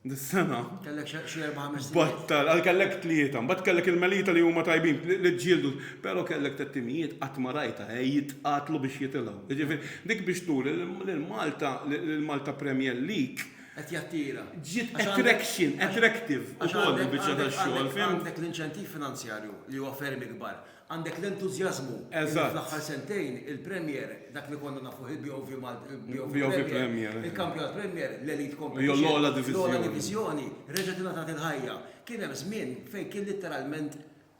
Dis-sena. Kellek xi erba' ħames timijiet. Battal, għal kellek tlieta, mbagħad kellek il-Melita li huma tajbin, li ġġieldu, però kellek tliet timijiet qatt ma rajtha he jitqatlu biex jitilgħu. Jiġifieri, dik biex turi li l-Malta, li l-Malta Premier League. Qed jattira. Ġiet attraction, attractive ukoll il-biċċa tax-xogħol, fhimt? Għax għandek l-inċentiv finanzjarju li huwa ferm ikbar. Għandek l-entużjażmu li Eżatt. fl-aħħar sentejn il-Premier, dak li konna nafuh il-BOV Mal- il-BOV BOV Premier, Premier, eżatt. il-Kampjonat Premier, l-Elite Competition, Jew l-ogħla diviżjoni. l-ogħla diviżjoni, reġgħet ingħatat il-ħajja. Kien hemm żmien fejn kien litteralment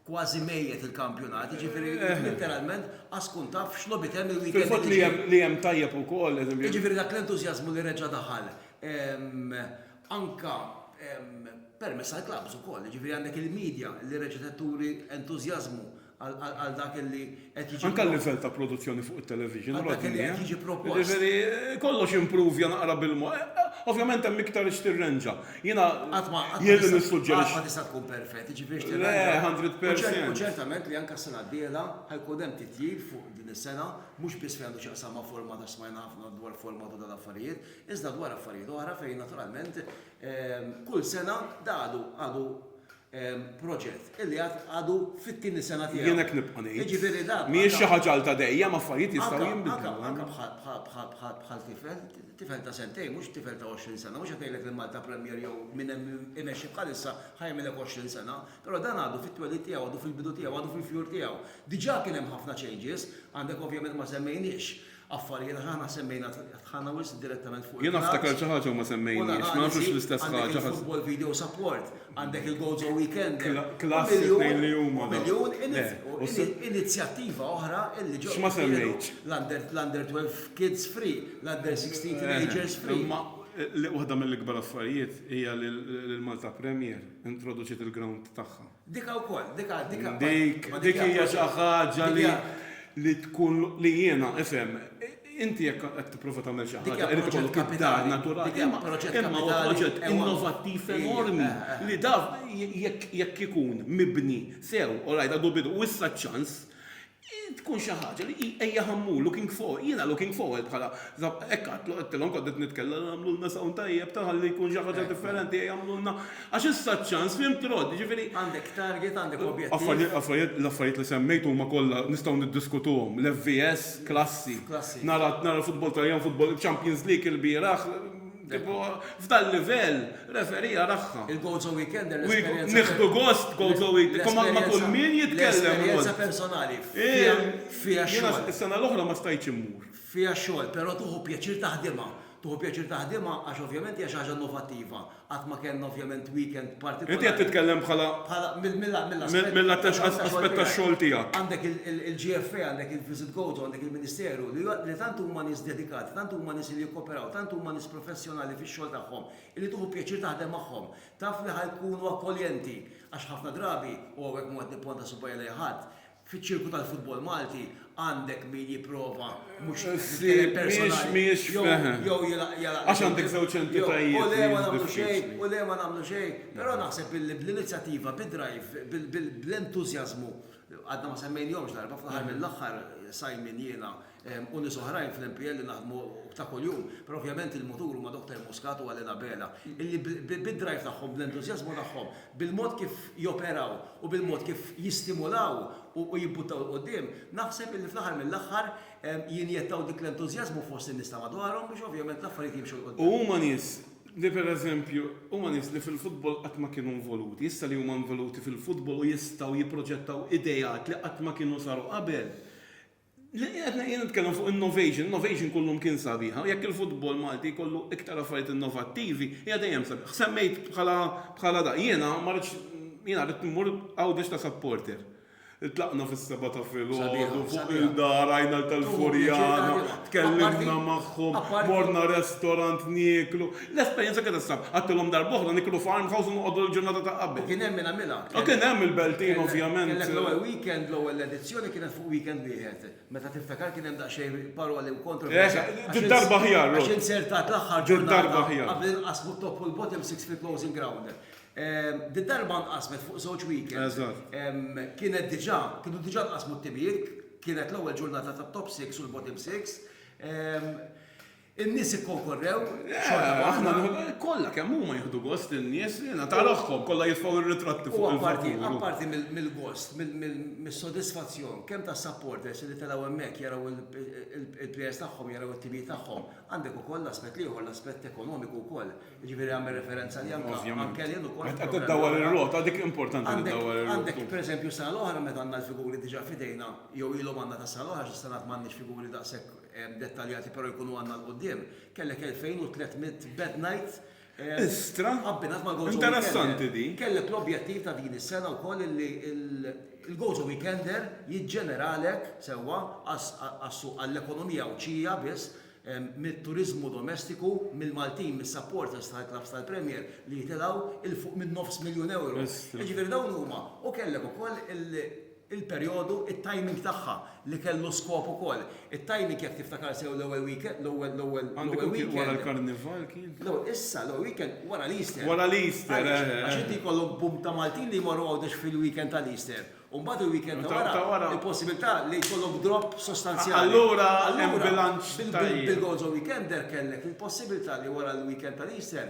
kważi mejjet il-kampjonat, jiġifieri int litteralment qas tkun taf x'logħbiet hemm il-weekend li Fil-fatt li ġej. hemm li hemm tajjeb ukoll, eżempju. Jiġifieri dak l-entużjażmu li reġa' daħal, ehm, anke permezz tal-klabbs ukoll, jiġifieri għandek il-midja li reġgħet qed turi entużjażmu għal dak li qed jiġi propost. Anke l-livell ta' produzzjoni fuq it-television, Rodney. Għal dak li qed jiġi propost. Jiġifieri kollox impruvja naqra bil-mod. Ovvjament hemm iktar x'tirrenġa. Jiena jien li nissuġġerixxi. Qatt ma tista' tkun perfett, jiġifieri x'tirrenġa. Le, hundred percent. U ċertament li anke s-sena d-dieħla ħajkun hemm titjib fuq din is-sena, mhux biss fejn għandu x'jaqsam ma' format għax smajna ħafna dwar format u dal-affarijiet, iżda dwar affarijiet oħra fejn naturalment kull sena da għadu għadu proġett illi għad għadu fit-tieni sena tiegħu. Jien hekk nibqa' ngħid. Jiġifieri da. Mhijiex xi ħaġa għal ta' dejjem affarijiet jistgħu jinbidlu. Anka bħal tifel, tifel ta' sentejn mhux tifel ta' 20 sena, mhux qed ngħidlek li Malta Premier jew minn hemm imexxi bħalissa ħajmilek 20 sena, però dan għadu fit-twelid tiegħu, għadu fil-bidu tiegħu, għadu fil-fjur tiegħu. Diġà kien hemm ħafna changes, għandek ovvjament ma semmejniex Affarijiet aħna semmejna tħallna wisq direttament fuq il-clubs. Jien niftakar xi ħaġa u ma semmejnix, ma nafx hux l-istess ħaġa. Għandek il-football video support, għandek il-Gozo Weekender, u miljun inizjattiva oħra li ġew jinkludu, l-Under 12 Kids Free, l-Under 16 Teenagers Free. Imma waħda mill-ikbar affarijiet hija li l-Malta Premier introduċiet il-ground tagħha. Dika wkoll, dika, dika. Dik, dik hija xi ħaġa li li tkun li jiena, ifhem, inti jekk qed tipprova tagħmel xi ħaġa, irid ikollok id-dar naturali. Imma huwa proġett innovattiv enormi li daf jekk ikun mibni sew, all right, għadu bidu, u issa ċ-ċans Tkun xi ħaġa li hi ejja ħammur, looking forward, jiena looking forward bħala, hekk għadtlu, għedtilhom kont qed nitkellem li għamlulna sound tajjeb ta' ħalli jkun xi ħaġa differenti, ejja għamlulna, għax issa ċ-ċans, fhimt Rod, jiġifieri. Għandek target, għandek objettiv. Affarijiet, l-affarijiet li semmejt huma kollha nistgħu niddiskutuhom, l-FVS, klassi, nara l-futbol Taljan, futbol, Champions League ilbieraħ, Kieku f'dal-livell, referee jarahha. Il-Gozo Weekender, l-esperjenza. Nieħdu gost, Gozo Weekend, imma ma' kull min jitkellem. L-esperjenza personali, fiha x-xogħol. Jiena s-sena l-oħra ma stajtx immur. Fiha x-xogħol, però tieħu pjaċir taħdimha. Tieħu pjaċir taħdimha għax ovvjament hija xi ħaġa innovattiva. Qatt ma kellna ovvjament weekend partikolari. Inti qed titkellem bħala. Bħala mill-aspett. Mill-att aspett tax-xogħol tiegħek. Għandek il-GFA, għandek il-Visit Gozo, għandek il-Ministeru, li tant huma nies dedikati, tant huma nies li. Però, tant huma nies professjonali fix-xogħol tagħhom illi tieħu pjaċir taħdem magħhom. Taf li ħa jkunu akkoljenti għax ħafna drabi, u hawnhekk m'hu qed nipponta subajja lejn ħadd, fiċ-ċirku tal-futbol Malti għandek min jipprova, mhux nitkellem personali, jew jilgħaq jew, jew, u le ma nagħmlu xejn, u le ma nagħmlu xejn. Però naħseb illi bl-inizjattiva, bid-drive, bl-entużjażmu, għadna ma semmejnihomx darba, fl-aħħar mill-aħħar Simon jiena, Hemm nies oħrajn fl-MPL li naħdmu ta' kuljum, però ovvjament il-mutur huma Doktor Muscat u Għalin Abela, illi bid-drive tagħhom, bl-entużjażmu tagħhom, bil-mod kif joperaw u bil-mod kif jistimulaw u jibbuttaw 'l quddiem, naħseb illi fl-aħħar mill-aħħar jinjettaw dik l-entużjażmu fost in-nies ta' madwarhom biex ovvjament l-affarijiet jimxu 'l quddiem. U huma nies li pereżempju, huma nies li fil-futbol qatt ma kienu involuti, issa li huma involuti fil-futbol u jistgħu jipproġettaw ideat li qatt ma kienu saru qabel, Qed jien nitkellem fuq innovation, innovation kull lum kien sabiħa u jekk il-futbol Malti jkollu iktar affarijiet innovattivi hija dejjem sabiħa. Semmejt bħala bħala da. Jiena ma rridx jiena ridt immur Għawdex ta' supporter. Tlaqna fis-sebgħa ta' filgħodu fuq il-dar, għajna l tal-Furjana, tkellimna magħhom, morna restorant nieklu. L-esperjenza kienet sabiħa. Għedtilhom darba oħra niklu farmhouse u noqogħdu l-ġurnata ta' qabel. U kien hemm min għamilha. U kien hemm il-Beltin ovvjament. Kellek l-ewwel weekend, l-ewwel edizzjoni. L-elezzjoni kienet fuq weekend wieħed, meta tiftakar kien hemm daqsxejn paroli u kontroversja għax inzertat l-aħħar ġurnata qabel inqasmu t-top u l-bottom six fil-closing ground. Did-darba nqasmet fuq żewġ weekends. Kienet diġà, kienu diġà nqasmu t-timijiet, kienet l-ewwel ġurnata tat-top six u l-bottom six. In-nies ikkonkorrew xorta waħda. Kollha kemm huma jieħdu gost in-nies li ngħata ruħhom, kollha jitfgħu r-ritratti fuq il-vapur. U apparti mill-gost, mis-sodisfazzjon kemm tas-supporters li telgħu hemmhekk jaraw il-players tagħhom, jaraw it-timijiet tagħhom, għandek ukoll l-aspett l-ieħor, l-aspett ekonomiku wkoll. Jiġifieri għamel referenza li anke għall-kelien ukoll. Qed iddawwar ir-rota, dik importanti li ddawwar ir-rota. Għandek pereżempju s-sena l-oħra meta għandna l-figuri diġà f'idejna, jew ilhom għandna tas-sena l-oħra għax is-sena m'għandniex figuri daqshekk dettaljati però jkunu għandna 'l quddiem, kellek 2,300 bed nights abbinat mal-Gozo Weekender. Interessanti din. Kellek l-objettiv ta' din is-sena wkoll illi l-Gozo Weekender jiġġeneralek sewwa għas-suq għall-ekonomija Għawdxija biss mit-turiżmu domestiku mill-Maltin mis-supporters tal-klabbs tal-Premier li jitilgħu 'l fuq min-nofs miljun ewro. Jiġifieri dawn huma u kellek ukoll il il-perjodu, it-timing tagħha li kellu skop ukoll. It-timing jekk tiftakar sew l-ewwel weekend, l-ewwel, l-ewwel, l-ewwel weekend. Għandu kien wara l-Karnival kien? Le, issa l-ewwel weekend wara l-Easter. Wara l-Easter, eh, eh. Għax inti jkollok boom ta' Maltin li jmorru Għawdex fil-weekend tal-Easter. U mbagħad il-weekend ta' wara. Ta' wara. Il-possibilità li jkollok drop sostanzjali. Allura hemm bilanċ tajjeb. Bil-Gonzo Weekender kellek il-possibilità li wara l-weekend tal-Easter,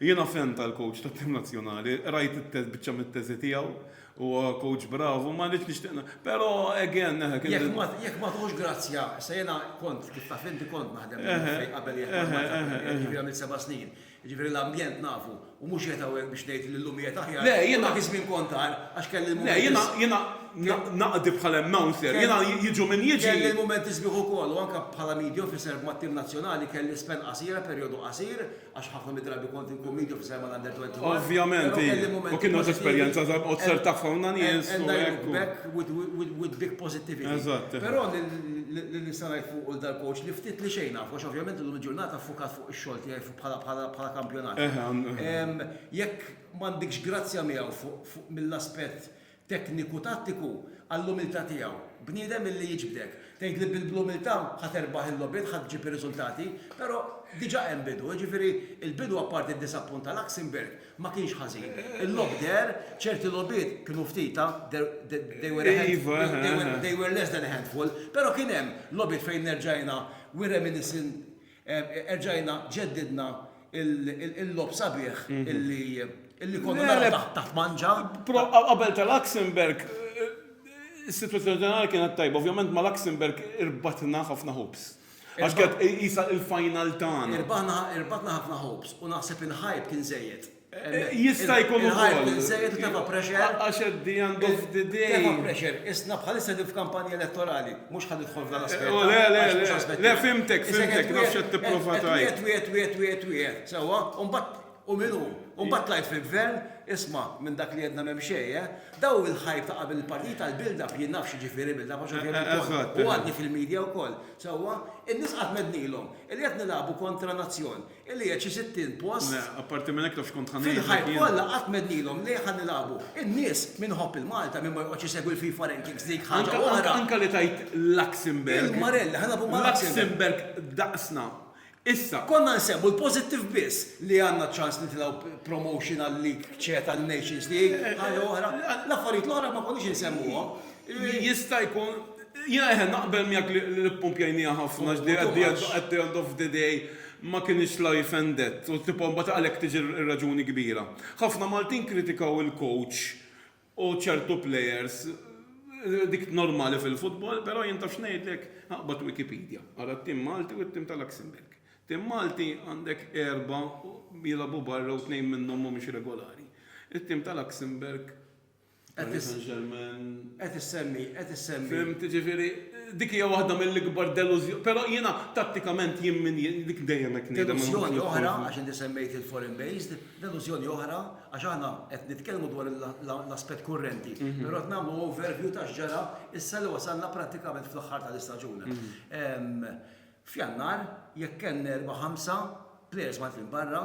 Jiena fan tal-coach tat-tim nazzjonali, qrajt biċċa mit-teżi tiegħu, huwa coach bravu, ma rridx nixtieq ngħid, però again, eħe kien hemm. Jekk ma tħossx grazzja, se jiena kont, kif taf int, kont naħdem fil-Għaffej qabel jekk ma tħossx grazzja, jiġifieri għamilt seba' snin, jiġifieri l-ambjent nafu u mhux qiegħed hawnhekk biex ngħid li llum qiegħed aħjar, u dak iż-żmien kont agħar għax kelli l-mumenti sbieħ. Le, jiena naqdi bħala announcer, jiena jiġu min jiġi. Kelli l-mumenti sbieħ ukoll u anke bħala media officer mat-tim nazzjonali kelli spenn qasira, perjodu qasir, Għax ħafna mid-drabi kont inkun medium fis-sehem għall-Under 21. Ovvjament, hi. U kien nagħti esperjenza ta' bqgħod ser taf hawn nies u hekk. With big positivity. Eżatt. Però li nista' ngħid fuq il dal-coach li ftit li xejn naf, għax ovvjament illum il-ġurnata ffukat fuq ix-xogħol tiegħi bħala kampjonat. Jekk m'għandikx grazzja miegħu fuq mill-aspett Tekniku tattiku għall-umiltà tiegħu. Bniedem illi jiġbdek. Tgħid li bl-umiltà ħa terbaħ il-logħbiet, ħa ġġib ir-riżultati, però diġà hemm bidu. Jiġifieri l-bidu apparti d-disappun ta' Luxembourg ma kienx ħażin. Il-logħob deher, ċerti logħbiet kienu ftit, ah, they were a handful, they were less than a handful, però kien hemm logħbiet fejn erġajna, we reminiscing, Erġajna ġeddidna il-logħob sabiħ illi konna naraw taħt Mangia. Qabel ta' Luxembourg is-sitwazzjoni ġenerali kienet tajba. Ovvjament ma' Luxembourg irbatna ħafna hopes. Għax kienet qisha l-final tagħna. Irbatna ħafna hopes u naħseb il-hype kien żejjed. Jista' jkun ukoll. Il-ħajt biżżejjed u tefa' pressure. Għax at the end of the day. Tefa' pressure. Isna bħalissa qegħdin f'kampanja elettorali. Mhux ħa nidħol f'dan l-aspett. O le, le, le. Le, fhimtek, fhimtek. Naf x'qed tipprova tgħid. Qed twiegħed, twiegħed, twiegħed, twiegħed. Sewwa? U mbagħad u min hu? U mbagħad tlajt fil-gvern, isma' minn dak li għedna m'hemm xejn, eh? Dawn il-hype ta' qabel il-partiti tal-build-up jien naf x'jiġifieri build-up għax u kien ukoll. U għadni fil-media wkoll. Sewwa? In-nies qatt m'għednilhom li qed nilagħbu kontra nazzjon. Illi qiegħed xi sittin post. Le, apparti minn hekk taf x'kont ħa ngħidlek jien. Fil-ħajt kollha qatt m'għednilhom le ħa nilagħbu. In-nies, min iħobb il-Malta, min ma joqgħodx isegwi l-FIFA rankings dik ħaġa oħra. Anke li tgħid Luxembourg. Il-Marelli, ħa nilagħbu ma' Luxembourg. Luxembourg daqsna. Issa. Konna nsemmu l-pożittiv biss li għandna ċ-ċans nitilgħu promotion għal-League C tal-Nations League, ħaġa oħra. L-affarijiet l-oħra ma konniex insemmuhom. Jista' jkun, jiena eħe naqbel miegħek li ppumpjajniha ħafna li at the end at the end of the day ma kinitx life and death u tipo mbagħad għalhekk tiġi r-raġuni kbira. Ħafna Maltin kritikaw il-coach u ċertu players dik normali fil-futbol però jien taf x'ngħidlek? Aqbad Wikipedia, ara t-tim Malti u t-tim ta' Luxembourg. Tim Malti għandek erba' jilagħbu barra u tnejn minnhom mhumiex regolari. It-tim ta' Luxembourg Paris Saint-Germain. Qed issemmi, qed issemmi. Fhimt, jiġifieri dik hija waħda mill-ikbar delużjoni, però jiena tattikament jien min dik dejjem hekk ngħidha. Delużjoni oħra, għax inti semmejt il-foreign based, delużjoni oħra, għax aħna qed nitkellmu dwar l-aspett kurrenti, però qed nagħmlu overview ta' x'ġara issa li wasalna prattikament fl-aħħar tal-istaġun. F'Jannar, jekk kellna erbgħa ħamsa plejers Maltin barra,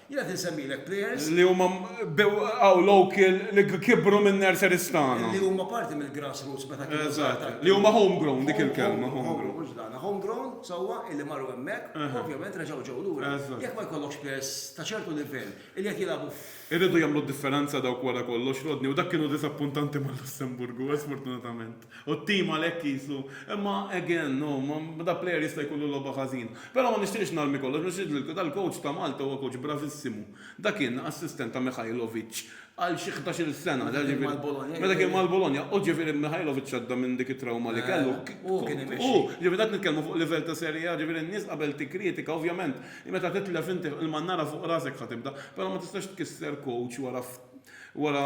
Jien qed insemmilek players. Li huma bdeww local li kibru min-nurseries tagħna. Li huma parti mill-grass roots meta kienu żgħar. Li huma home grown dik il-kelma. Home grown mhux dana. Home grown sewwa illi marru hemmhekk u ovvjament reġgħu ġew lura. Jekk ma jkollokx players ta' ċertu livell illi qed jilagħbu f'. Iridu jagħmlu d-differenza dawk wara kollox, Rodney, u dak kienu diżappuntanti mal-Lussemburgu, sfortunatament. U t-team għalhekk qisu, imma again, no, ma da player jista' jkollu logħba ħażina. Però ma nixtieqx narmi kollox, ma nixtieqx li dal-coach ta' Malta huwa coach bravissimu. Da kien assistent ta' Mihajlovic għal xi ħdax-il sena, da ġifieri, meta kien mal-Bologna, u ġifieri Mihajlovic għadda minn dik it-trawma li kellu. Hu kien imexxi. Hu, ġifieri qed nitkellmu fuq livell ta' Serie A, ġifieri n-nies qabel tikkritika, ovvjament, meta titlef inti il-mannara fuq rasek ħa tibda, però ma tistax tkisser coach wara wara,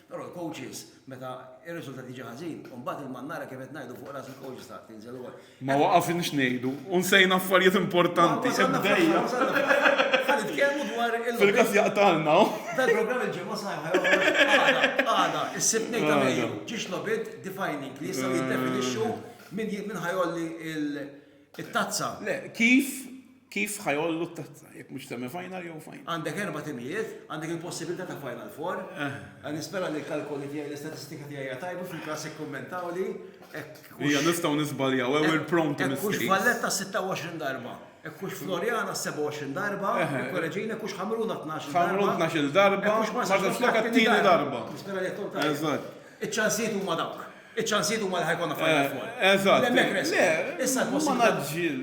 Però l-coaches meta r-riżultat jiġi ħażin, u mbagħad il-mannara kif qed ngħidu fuq ras il-coaches taf tinżel ukoll. Ma waqafniex ngħidu u nsejna affarijiet importanti. Ħa nitkellmu dwar il-logħbiet. Fil-każ jaqtgħalna hawn. Dal-programm il-ġimgħa s-sajħa jew għada, għada, is-Sibt Tnejn ta' Mejju, ġiex logħbiet defining li jistgħu jiddefinixxu min ħa jgħolli l- It-tazza. Le, kif kif ħajollu t-tazza, jekk mhux semi final jew final. Għandek erba' timijiet, għandek il-possibilità ta' final four. Eh. Għan nispera li l-kalkoli tiegħi l-istatistika tiegħi hija tajba fil-klass ikkummentaw li. Hija nistgħu nisbaljaw ew il-prom ta' Kux Valletta 26 darba. Kux Floriana 27 darba, eh, eh. korreġina kux Ħamruna 12 darba. Ħamruna 12 darba, kux Marsa Flokka t-tieni darba. Nispera li jtun tajba. Eżatt. Iċ-ċansijiet huma dawk. Iċ-ċansijiet huma li ħa jkollna Final Four. Eżatt. Hemmhekk resqu. Issa l-possibilità,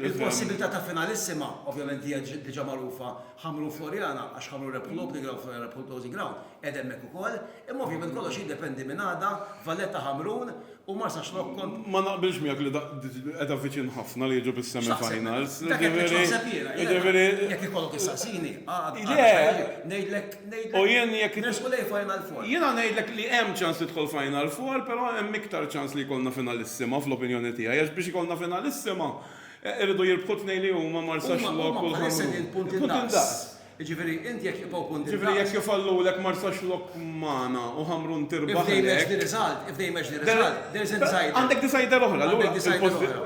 il-possibilità ta' finalissima, ovvjament hija diġà magħrufa, Ħamrun Floriana, għax Ħamrun rebħu l-opening ground, Floriana rebħu l-closing ground, qiegħda hemmhekk ukoll. Imma ovvjament kollox jiddependi minn għada, Valletta Ħamrun u Marsaxlokk kont. Ma naqbilx miegħek li qiegħda viċin ħafna li jiġu bis-semi finals. Jiġifieri. Jiġifieri. Jekk ikollok issaqsini, għada. Le. Ngħidlek. U jien jekk. Nersqu lejn Final Four. Jiena ngħidlek li hemm ċans tidħol Final Four, però hemm iktar ċans li jkollna Finalissima fl-opinjoni tiegħi għax biex ikollna Finalissima iridu jirbħu t-tnejn li huma Marsaxlokk u l-Ħamrun. Huma bħalissa qegħdin punt indaqs. Jiġifieri int jekk jibqgħu punt indaqs. Jiġifieri jekk ifallulek Marsaxlokk magħna u Ħamrun tirbaħlek. If they match the result, if they match the result, there is a decider. Għandek decider oħra. Allura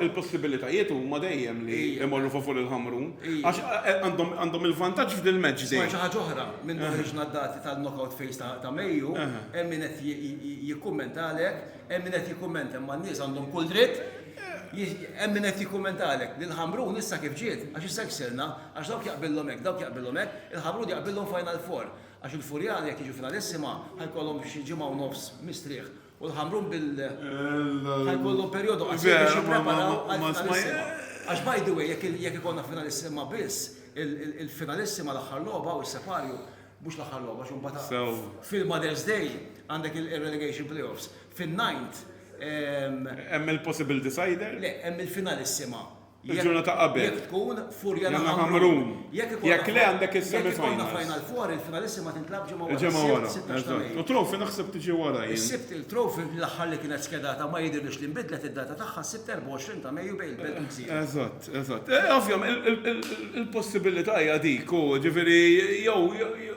il-possibilitajiet huma dejjem li jmorru favur il-Ħamrun. Għax għandhom il-vantaġġ f'dil match day. Xi ħaġa oħra, minn ħriġna d-dati tal-knockout phase ta' Mejju, hemm min qed jikkummenta għalhekk, hemm min qed jikkummenta imma n-nies għandhom kull dritt, hemm min qed jikkummenta għalhekk li l-Ħamrun issa kif ġiet, għax issa ksirna, għax dawk jaqbillhom hekk, dawk jaqbillhom hekk, il-Ħamrun jaqbillhom Final Four, għax il-Furjani jekk jiġu Finalissima ħa jkollhom xi ġimgħa u nofs mistrieħ. U l-Ħamrun bil ħa jkollhom perjodu qasir biex jippreparaw għall-Finalissima. Għax by the way, jekk ikollna Finalissima biss, il-Finalissima l-aħħar logħba u s-Separju, mhux l-aħħar logħba għax imbagħad fil-Mother's Day għandek ir-Relegation Playoffs. Fin-Ninth. Hemm il-possible decider? Le, hemm il-Finalissima. Il-ġurnata qabel. Jekk tkun Furja na Ħamrun. Jekk le għandek is-semi finals. Jekk ikollna final four, il-finalissima ma tintlagħabx ġimgħa wara. Il-ġimgħa wara. Eżatt. U trophy naħseb tiġi wara jien. Is-Sibt, il-trophy l-aħħar li kienet skedata ma jidhirlix li nbidlet id-data tagħha s-Sibt 24 ta' Mejju bejn il-Belt u l-Gżira. Eżatt, eżatt. Ovvjament il-possibilità hija dik u ġifieri jew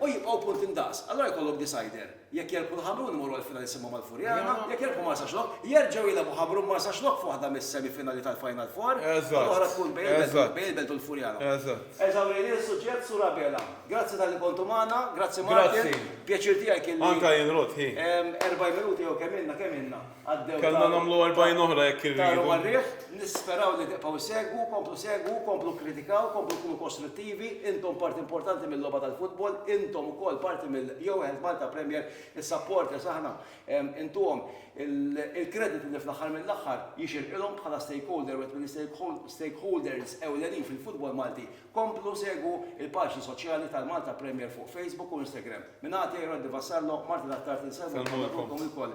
u jibqgħu punt indaqs. Allura jkollok decider. Jekk jirbħu l-Ħamrun imorru għall-finali jsimmhom mal-Furjana, jekk jirbħu Marsaxlokk, jerġgħu jilgħabu Ħamrun Marsaxlokk f'waħda mis-semifinali tal-Final Four u l-oħra tkun bejn il-Belt u l-Furjana. Eżawrejni l-suġġett, Sur Abela. Grazzi talli kontu magħna, grazzi Martin, pjaċir tiegħi kien li 40 minuta jew kemm ilna, kemm ilna? Kellna nagħmlu erbgħin oħra jekk irridu. Nisperaw li tibqgħu issegwu, komplu segwu, komplu kkritikaw, komplu kunu kostrittivi, intom parti importanti mill-logħba tal-futbol, intom ukoll parti mill jew Health Malta Premier, is-supporters aħna intuhom il-kreditu li fl-aħħar mill-aħħar jixirqilhom bħala stakeholder u wieħed mill-istakeholders ewlenin fil-futbol Malti. Komplu segwu l-paġni soċjali tal-Malta Premier fuq Facebook u Instagram. Minn Għatej, Roddy Vassallo, Martin Attard insellmulkom u nagħtukom ilkoll